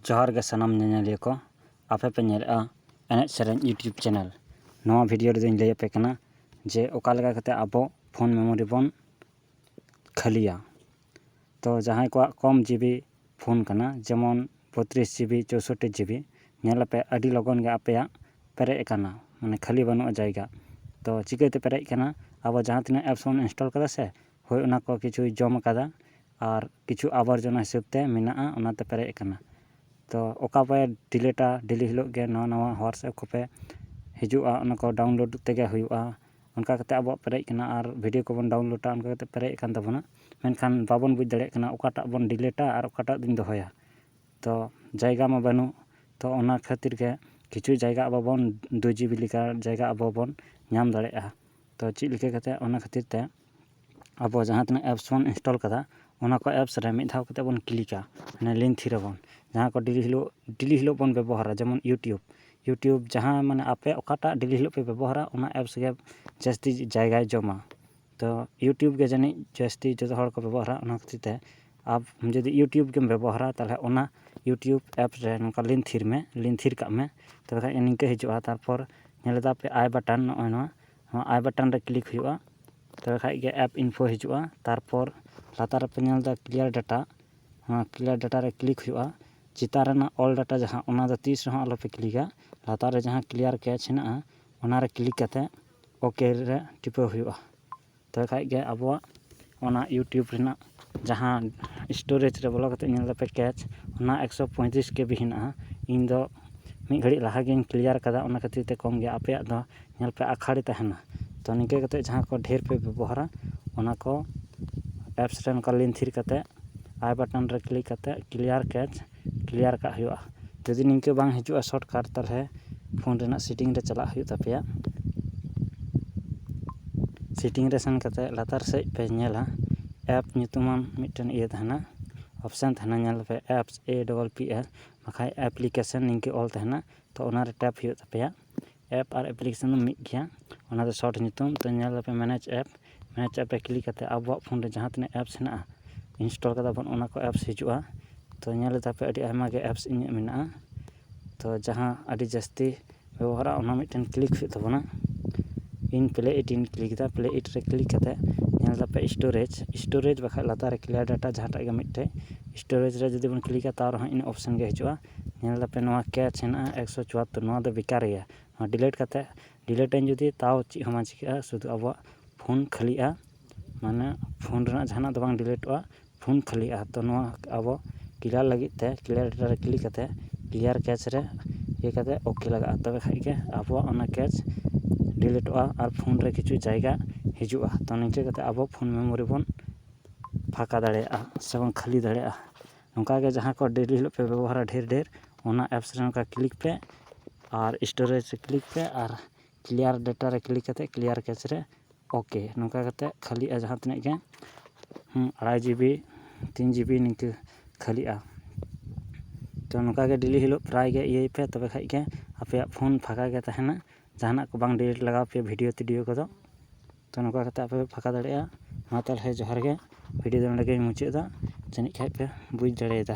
ᱡᱚᱦᱟᱨ ᱜᱮ ᱥᱟᱱᱟᱢ ᱧᱮᱧᱮᱞᱤᱭᱟᱹ ᱠᱚ ᱟᱯᱮ ᱯᱮ ᱧᱮᱞᱮᱫᱼᱟ ᱮᱱᱮᱡ ᱥᱮᱨᱮᱧ ᱤᱭᱩᱴᱩᱵᱽ ᱪᱮᱱᱮᱞ ᱱᱚᱣᱟ ᱵᱷᱤᱰᱤᱭᱳ ᱨᱮᱫᱚᱧ ᱞᱟᱹᱭ ᱟᱯᱮ ᱠᱟᱱᱟ ᱡᱮ ᱚᱠᱟ ᱞᱮᱠᱟ ᱠᱟᱛᱮᱫ ᱟᱵᱚ ᱯᱷᱳᱱ ᱢᱮᱢᱳᱨᱤ ᱵᱚᱱ ᱠᱷᱟᱹᱞᱤᱭᱟ ᱛᱚ ᱡᱟᱦᱟᱸᱭ ᱠᱚᱣᱟᱜ ᱠᱚᱢ ᱡᱤᱵᱤ ᱯᱷᱳᱱ ᱠᱟᱱᱟ ᱡᱮᱢᱚᱱ ᱵᱚᱛᱛᱨᱤᱥ ᱡᱤᱵᱤ ᱪᱳᱣᱥᱳᱴᱴᱤ ᱡᱤᱵᱤ ᱧᱮᱞ ᱟᱯᱮ ᱟᱹᱰᱤ ᱞᱚᱜᱚᱱ ᱜᱮ ᱟᱯᱮᱭᱟᱜ ᱯᱮᱨᱮᱡ ᱟᱠᱟᱱᱟ ᱢᱟᱱᱮ ᱠᱷᱟᱹᱞᱤ ᱵᱟᱹᱱᱩᱜᱼᱟ ᱡᱟᱭᱜᱟ ᱛᱚ ᱪᱤᱠᱟᱹᱛᱮ ᱯᱮᱨᱮᱡ ᱟᱠᱟᱱᱟ ᱟᱵᱚ ᱡᱟᱦᱟᱸ ᱛᱤᱱᱟᱹᱜ ᱮᱯᱥ ᱵᱚᱱ ᱤᱱᱥᱴᱚᱞ ᱠᱟᱫᱟ ᱥᱮ ᱦᱳᱭ ᱚᱱᱟ ᱠᱚ ᱠᱤᱪᱷᱩᱭ ᱡᱚᱢ ᱟᱠᱟᱫᱟ ᱟᱨ ᱠᱤᱪᱷᱩ ᱟᱵᱚᱨᱡᱚᱱᱟ ᱦᱤᱥᱟᱹᱵ ᱛᱮ ᱢᱮᱱᱟᱜᱼᱟ ᱚᱱᱟᱛᱮ ᱯᱮᱨᱮᱡ ᱟᱠᱟᱱᱟ ᱛᱚ ᱚᱠᱟ ᱯᱮ ᱰᱤᱞᱤᱴᱟ ᱰᱮᱞᱤ ᱦᱤᱞᱳᱜ ᱜᱮ ᱱᱟᱣᱟ ᱱᱟᱣᱟ ᱦᱳᱣᱟᱴᱥᱮᱯ ᱠᱚᱯᱮ ᱦᱤᱡᱩᱜᱼᱟ ᱚᱱᱟ ᱠᱚ ᱰᱟᱣᱩᱱᱞᱳᱰ ᱛᱮᱜᱮ ᱦᱩᱭᱩᱜᱼᱟ ᱚᱱᱠᱟ ᱠᱟᱛᱮ ᱟᱵᱚᱣᱟᱜ ᱯᱮᱨᱮᱡ ᱟᱠᱟᱱᱟ ᱟᱨ ᱵᱷᱤᱰᱤᱭᱳ ᱠᱚᱵᱚᱱ ᱰᱟᱣᱩᱱᱞᱳᱰᱟ ᱚᱱᱠᱟ ᱠᱟᱛᱮ ᱯᱮᱨᱮᱡ ᱟᱠᱟᱱ ᱛᱟᱵᱚᱱᱟ ᱢᱮᱱᱠᱷᱟᱱ ᱵᱟᱵᱚᱱ ᱵᱩᱡᱽ ᱫᱟᱲᱮᱭᱟᱜ ᱠᱟᱱᱟ ᱚᱠᱟᱴᱟᱜ ᱵᱚᱱ ᱰᱤᱞᱤᱴᱟ ᱟᱨ ᱚᱠᱟᱴᱟᱜ ᱫᱚᱧ ᱫᱚᱦᱚᱭᱟ ᱛᱚ ᱡᱟᱭᱜᱟ ᱢᱟ ᱵᱟᱹᱱᱩᱜ ᱛᱚ ᱚᱱᱟ ᱠᱷᱟᱹᱛᱤᱨ ᱜᱮ ᱠᱤᱪᱷᱩ ᱡᱟᱭᱜᱟ ᱟᱵᱚ ᱵᱚᱱ ᱫᱩ ᱡᱤᱵᱤ ᱞᱮᱠᱟ ᱡᱟᱭᱜᱟ ᱟᱵᱚ ᱵᱚᱱ ᱧᱟᱢ ᱫᱟᱲᱮᱭᱟᱜᱼᱟ ᱛᱚ ᱪᱮᱫ ᱞᱮᱠᱟ ᱠᱟᱛᱮ ᱚᱱᱟ ᱠᱷᱟᱹᱛᱤᱨ ᱛᱮ ᱟᱵᱚ ᱡᱟᱦᱟᱸ ᱛᱤᱱᱟᱹᱜ ᱮᱯᱥ ᱵᱚᱱ ᱤᱱᱥᱴᱚᱞ ᱠᱟᱫᱟ ᱚᱱᱟ ᱠᱚ ᱮᱯᱥ ᱨᱮ ᱢᱤᱫ ᱫᱷᱟᱣ ᱠᱟᱛᱮᱫ ᱵᱚᱱ ᱠᱞᱤᱠᱟ ᱢᱟᱱᱮ ᱞᱤᱱ ᱛᱷᱤᱨ ᱟᱵᱚᱱ ᱡᱟᱦᱟᱸ ᱠᱚ ᱰᱮᱞᱤ ᱦᱤᱞᱳᱜ ᱰᱮᱞᱤ ᱦᱤᱞᱳᱜ ᱵᱚᱱ ᱵᱮᱵᱚᱦᱟᱨᱟ ᱡᱮᱢᱚᱱ ᱤᱭᱩᱴᱩᱵᱽ ᱤᱭᱩᱴᱩᱵᱽ ᱡᱟᱦᱟᱸ ᱢᱟᱱᱮ ᱟᱯᱮ ᱚᱠᱟᱴᱟᱜ ᱰᱮᱞᱤ ᱦᱤᱞᱳᱜ ᱯᱮ ᱵᱮᱵᱚᱦᱟᱨᱟ ᱚᱱᱟ ᱮᱯᱥ ᱜᱮ ᱡᱟᱹᱥᱛᱤ ᱡᱟᱭᱜᱟᱭ ᱡᱚᱢᱟ ᱛᱚ ᱤᱭᱩᱴᱩᱵᱽ ᱜᱮ ᱡᱟᱹᱱᱤᱡ ᱡᱟᱹᱥᱛᱤ ᱡᱚᱛᱚ ᱦᱚᱲ ᱠᱚ ᱵᱮᱵᱚᱦᱟᱨᱟ ᱚᱱᱟ ᱠᱷᱟᱹᱛᱤᱨ ᱛᱮ ᱟᱢ ᱡᱩᱫᱤ ᱤᱭᱩᱴᱩᱵᱽ ᱜᱮᱢ ᱵᱮᱵᱚᱦᱟᱨᱟ ᱛᱟᱦᱚᱞᱮ ᱚᱱᱟ ᱤᱭᱩᱴᱩᱵᱽ ᱮᱯᱥ ᱨᱮ ᱱᱚᱝᱠᱟ ᱞᱤᱱ ᱛᱷᱤᱨ ᱢᱮ ᱞᱤᱱ ᱛᱷᱤᱨ ᱠᱟᱜ ᱢᱮ ᱛᱚᱵᱮ ᱠᱷᱟᱱ ᱱᱤᱝᱠᱟᱹ ᱦᱤᱡᱩᱜᱼᱟ ᱛᱟᱨᱯᱚᱨ ᱧᱮᱞ ᱮᱫᱟᱯᱮ ᱟᱭ ᱵᱟᱴᱚᱱ ᱱᱚᱜᱼᱚᱭ ᱱᱚᱣᱟ ᱱᱚᱣᱟ ᱟᱭ ᱵᱟᱴᱚᱱ ᱨᱮ ᱠᱞᱤᱠ ᱦᱩᱭᱩᱜᱼᱟ ᱛᱚᱵᱮ ᱠᱷᱟᱱ ᱜᱮ ᱮᱯ ᱤᱱᱯᱷᱳ ᱦᱤᱡᱩᱜᱼᱟ ᱛᱟᱨᱯᱚᱨ ᱞᱟᱛᱟᱨ ᱨᱮᱯᱮ ᱧᱮᱞ ᱮᱫᱟ ᱠᱞᱤᱭᱟᱨ ᱰᱟᱴᱟ ᱚᱱᱟ ᱠᱞᱤᱭᱟᱨ ᱰᱟᱴᱟ ᱨᱮ ᱠᱞᱤᱠ ᱦᱩᱭᱩᱜᱼᱟ ᱪᱮᱛᱟᱱ ᱨᱮᱱᱟᱜ ᱚᱞ ᱰᱟᱴᱟ ᱡᱟᱦᱟᱸ ᱚᱱᱟ ᱫᱚ ᱛᱤᱥ ᱨᱮᱦᱚᱸ ᱟᱞᱚᱯᱮ ᱠᱞᱤᱠᱟ ᱞᱟᱛᱟᱨ ᱨᱮ ᱡᱟᱦᱟᱸ ᱠᱞᱤᱭᱟᱨ ᱠᱮᱪ ᱦᱮᱱᱟᱜᱼᱟ ᱚᱱᱟ ᱨᱮ ᱠᱞᱤᱠ ᱠᱟᱛᱮᱫ ᱳᱠᱮ ᱨᱮ ᱴᱤᱯᱟᱹᱣ ᱦᱩᱭᱩᱜᱼᱟ ᱛᱚᱵᱮ ᱠᱷᱟᱱ ᱜᱮ ᱟᱵᱚᱣᱟᱜ ᱚᱱᱟ ᱤᱭᱩᱴᱩᱵᱽ ᱨᱮᱱᱟᱜ ᱡᱟᱦᱟᱸ ᱥᱴᱳᱨᱮᱡᱽ ᱨᱮ ᱵᱚᱞᱚ ᱠᱟᱛᱮᱫ ᱧᱮᱞ ᱫᱟᱯᱮ ᱠᱮᱪ ᱚᱱᱟ ᱮᱠᱥᱚ ᱯᱚᱸᱭᱛᱨᱤᱥ ᱠᱮ ᱵᱤ ᱦᱮᱱᱟᱜᱼᱟ ᱤᱧ ᱫᱚ ᱢᱤᱫ ᱜᱷᱟᱹᱲᱤᱡ ᱞᱟᱦᱟ ᱜᱤᱧ ᱠᱞᱤᱭᱟᱨ ᱠᱟᱫᱟ ᱚᱱᱟ ᱠᱷᱟᱹᱛᱤᱨ ᱛᱮ ᱠᱚᱢ ᱜᱮᱭᱟ ᱟᱯᱮᱭᱟᱜ ᱫᱚ ᱧᱮᱞ ᱯᱮ ᱟᱠᱷᱟᱲᱮ ᱛᱟᱦᱮᱱᱟ ᱛᱚ ᱱᱤᱝᱠᱟᱹ ᱠᱟᱛᱮᱫ ᱡᱟᱦᱟᱸ ᱠᱚ ᱰᱷᱮᱨ ᱯᱮ ᱵᱮᱵᱚᱦᱟᱨᱟ ᱚᱱᱟ ᱠᱚ ᱮᱯᱥ ᱨᱮ ᱚᱱᱠᱟ ᱞᱤᱱ ᱛᱷᱤᱨ ᱠᱟᱛᱮᱫ ᱟᱭ ᱵᱟᱴᱚᱱ ᱨᱮ ᱠᱞᱤᱠ ᱠᱟᱛᱮᱫ ᱠᱞᱤᱭᱟᱨ ᱠᱮᱪ ᱠᱞᱤᱭᱟᱨ ᱠᱟᱜ ᱦᱩᱭᱩᱜᱼᱟ ᱡᱩᱫᱤ ᱱᱤᱝᱠᱟᱹ ᱵᱟᱝ ᱦᱤᱡᱩᱜᱼᱟ ᱥᱚᱨᱴᱠᱟᱨᱴ ᱛᱟᱦᱚᱞᱮ ᱯᱷᱳᱱ ᱨᱮᱱᱟᱜ ᱥᱮᱴᱤᱝ ᱨᱮ ᱪᱟᱞᱟᱜ ᱦᱩᱭᱩᱜ ᱛᱟᱯᱮᱭᱟ ᱥᱮᱴᱤᱝ ᱨᱮ ᱥᱮᱱ ᱠᱟᱛᱮᱫ ᱞᱟᱛᱟᱨ ᱥᱮᱫ ᱯᱮ ᱧᱮᱞᱟ ᱮᱯ ᱧᱩᱛᱩᱢᱟᱱ ᱢᱤᱫᱴᱮᱱ ᱤᱭᱟᱹ ᱛᱟᱦᱮᱱᱟ ᱚᱯᱷᱥᱮᱱ ᱛᱟᱦᱮᱱᱟ ᱧᱮᱞ ᱯᱮ ᱮᱯᱥ ᱮ ᱰᱚᱵᱚᱞ ᱯᱤ ᱮᱥ ᱵᱟᱠᱷᱟᱡ ᱮᱯᱞᱤᱠᱮᱥᱮᱱ ᱱᱤᱝᱠᱟᱹ ᱚᱞ ᱛᱟᱦᱮᱱᱟ ᱛᱚ ᱚᱱᱟᱨᱮ ᱴᱮᱯ ᱦᱩᱭᱩᱜ ᱛᱟᱯᱮᱭᱟ ᱮᱯ ᱟᱨ ᱮᱯᱞᱤᱠᱮᱥᱚᱱ ᱫᱚ ᱢᱤᱫ ᱜᱮᱭᱟ ᱚᱱᱟ ᱫᱚ ᱥᱚᱨᱴ ᱧᱩᱛᱩᱢ ᱛᱚ ᱧᱮᱞ ᱟᱯᱮ ᱢᱮᱱᱮᱡᱽ ᱮᱯ ᱢᱮᱱᱮᱡᱽ ᱮᱯ ᱨᱮ ᱠᱞᱤᱠ ᱠᱟᱛᱮᱫ ᱟᱵᱚᱣᱟᱜ ᱯᱷᱳᱱ ᱨᱮ ᱡᱟᱦᱟᱸ ᱛᱤᱱᱟᱹᱜ ᱮᱯᱥ ᱦᱮᱱᱟᱜᱼᱟ ᱤᱱᱥᱴᱚᱞ ᱠᱟᱫᱟ ᱵᱚᱱ ᱚᱱᱟ ᱠᱚ ᱮᱯᱥ ᱦᱤᱡᱩᱜᱼᱟ ᱛᱚ ᱧᱮᱞ ᱞᱮᱫᱟ ᱯᱮ ᱟᱹᱰᱤ ᱟᱭᱢᱟ ᱜᱮ ᱮᱯᱥ ᱤᱧᱟᱹᱜ ᱢᱮᱱᱟᱜᱼᱟ ᱛᱚ ᱡᱟᱦᱟᱸ ᱟᱹᱰᱤ ᱡᱟᱹᱥᱛᱤ ᱵᱮᱵᱚᱦᱟᱨᱚᱜᱼᱟ ᱚᱱᱟ ᱢᱤᱫᱴᱮᱱ ᱠᱞᱤᱠ ᱦᱩᱭᱩᱜ ᱛᱟᱵᱚᱱᱟ ᱤᱧ ᱯᱞᱮ ᱤᱴ ᱤᱧ ᱠᱞᱤᱠ ᱮᱫᱟ ᱯᱞᱮ ᱤᱴ ᱨᱮ ᱠᱞᱤᱠ ᱠᱟᱛᱮᱫ ᱧᱮᱞ ᱫᱟᱯᱮ ᱥᱴᱳᱨᱮᱡᱽ ᱥᱴᱳᱨᱮᱡᱽ ᱵᱟᱠᱷᱟᱡ ᱞᱟᱛᱟᱨ ᱨᱮ ᱠᱞᱤᱭᱟᱨ ᱰᱟᱴᱟ ᱡᱟᱦᱟᱸᱴᱟᱜ ᱜᱮ ᱢᱤᱫᱴᱮᱡ ᱥᱴᱳᱨᱮᱡᱽ ᱨᱮ ᱡᱩᱫᱤ ᱵᱚᱱ ᱠᱞᱤᱠᱟ ᱛᱟᱣ ᱨᱮᱦᱚᱸ ᱤᱱᱟᱹ ᱚᱯᱷᱥᱮᱱ ᱜᱮ ᱦᱤᱡᱩᱜᱼᱟ ᱧᱮᱞ ᱫᱟᱯᱮ ᱱᱚᱣᱟ ᱠᱮᱪ ᱦᱮᱱᱟᱜᱼᱟ ᱮᱠᱥᱚ ᱪᱩᱣᱟᱛᱛᱳᱨ ᱱᱚᱣᱟ ᱫᱚ ᱵᱮᱠᱟᱨ ᱜᱮᱭᱟ ᱱᱚᱣᱟ ᱰᱤᱞᱮᱴ ᱠᱟᱛᱮᱫ ᱰᱤᱞᱮᱴ ᱟᱹᱧ ᱡᱩᱫᱤ ᱛᱟᱣ ᱪᱮᱫ ᱦᱚᱸ ᱵᱟᱝ ᱪᱤᱠᱟᱹᱜᱼᱟ ᱥᱩᱫᱩ ᱟᱵᱚᱣᱟᱜ ᱯᱷᱳᱱ ᱠᱷᱟᱹᱞᱤᱜᱼᱟ ᱢᱟᱱᱮ ᱯᱷᱳᱱ ᱨᱮᱱᱟᱜ ᱡᱟᱦᱟᱱᱟᱜ ᱫᱚ ᱵᱟᱝ ᱰᱤᱞᱮᱴᱚᱜᱼᱟ ᱯᱷᱳᱱ ᱠᱷᱟᱹᱞᱤᱜᱼᱟ ᱛᱚ ᱱᱚᱣᱟ ᱟᱵᱚ ᱠᱞᱤᱭᱟᱨ ᱞᱟᱹᱜᱤᱫ ᱛᱮ ᱠᱞᱤᱭᱟᱨ ᱨᱮ ᱠᱞᱤᱠ ᱠᱟᱛᱮᱫ ᱠᱞᱤᱭᱟᱨ ᱠᱮᱪ ᱨᱮ ᱠᱞᱤᱠ ᱠᱟᱛᱮᱫ ᱳᱠᱮ ᱞᱟᱜᱟᱜᱼᱟ ᱛᱚᱵᱮ ᱠᱷᱟᱱ ᱜᱮ ᱟᱵᱚᱣᱟᱜ ᱚᱱᱟ ᱠᱮᱪ ᱰᱤᱞᱮᱴᱚᱜᱼᱟ ᱟᱨ ᱯᱷᱳᱱ ᱨᱮ ᱠᱤᱪᱷᱩ ᱡᱟᱭᱜᱟ ᱦᱤᱡᱩᱜᱼᱟ ᱛᱚ ᱱᱤᱝᱠᱟᱹ ᱠᱟᱛᱮᱫ ᱟᱵᱚ ᱯᱷᱳᱱ ᱢᱮᱢᱳᱨᱤ ᱵᱚᱱ ᱯᱷᱟᱸᱠᱟ ᱫᱟᱲᱮᱭᱟᱜᱼᱟ ᱥᱮᱵᱚᱱ ᱠᱷᱟᱹᱞᱤ ᱫᱟᱲᱮᱭᱟᱜᱼᱟ ᱱᱚᱝᱠᱟ ᱜᱮ ᱡᱟᱦᱟᱸ ᱠᱚ ᱰᱮᱞᱤ ᱦᱤᱞᱳᱜ ᱯᱮ ᱵᱮᱵᱚᱦᱟᱨᱟ ᱰᱷᱮᱨ ᱰᱷᱮᱨ ᱚᱱᱟ ᱮᱯᱥ ᱨᱮ ᱱᱚᱝᱠᱟ ᱠᱞᱤᱠ ᱯᱮ ᱟᱨ ᱥᱴᱳᱨᱮᱡᱽ ᱨᱮ ᱠᱞᱤᱠ ᱯᱮ ᱟᱨ ᱠᱞᱤᱭᱟᱨ ᱰᱮᱴᱟ ᱨᱮ ᱠᱞᱤᱠ ᱠᱟᱛᱮᱫ ᱠᱞᱤᱭᱟᱨ ᱠᱮᱥ ᱨᱮ ᱳᱠᱮ ᱱᱚᱝᱠᱟ ᱠᱟᱛᱮᱫ ᱠᱷᱟᱹᱞᱤᱜᱼᱟ ᱡᱟᱦᱟᱸ ᱛᱤᱱᱟᱹᱜ ᱜᱮ ᱟᱲᱟᱭ ᱡᱤᱵᱤ ᱛᱤᱱ ᱡᱤᱵᱤ ᱱᱤᱝᱠᱟᱹ ᱠᱷᱟᱹᱞᱤᱜᱼᱟ ᱛᱳ ᱱᱚᱝᱠᱟᱜᱮ ᱰᱮᱞᱤ ᱦᱤᱞᱳᱜ ᱯᱨᱟᱭ ᱜᱮ ᱤᱭᱟᱹᱭ ᱯᱮ ᱛᱚᱵᱮ ᱠᱷᱟᱱ ᱜᱮ ᱟᱯᱮᱭᱟᱜ ᱯᱷᱳᱱ ᱯᱷᱟᱸᱠᱟ ᱜᱮ ᱛᱟᱦᱮᱱᱟ ᱡᱟᱦᱟᱱᱟᱜ ᱠᱚ ᱵᱟᱝ ᱰᱤᱞᱤᱴ ᱞᱟᱜᱟᱣ ᱯᱮᱭᱟ ᱵᱷᱤᱰᱤᱭᱳ ᱴᱤᱰᱤᱭᱳ ᱠᱚᱫᱚ ᱛᱚ ᱱᱚᱝᱠᱟ ᱠᱟᱛᱮᱫ ᱟᱯᱮ ᱯᱮ ᱯᱷᱟᱸᱠᱟ ᱫᱟᱲᱮᱭᱟᱜᱼᱟ ᱢᱟ ᱛᱟᱦᱚᱞᱮ ᱡᱚᱦᱟᱨ ᱜᱮ ᱵᱷᱤᱰᱤᱭᱳ ᱫᱚ ᱱᱚᱰᱮ ᱜᱮᱧ ᱢᱩᱪᱟᱹᱫ ᱮᱫᱟ ᱡᱟᱹᱱᱤᱡ ᱠᱷᱟᱱ ᱯᱮ ᱵᱩᱡᱽ ᱫᱟᱲᱮᱭᱟᱫᱟ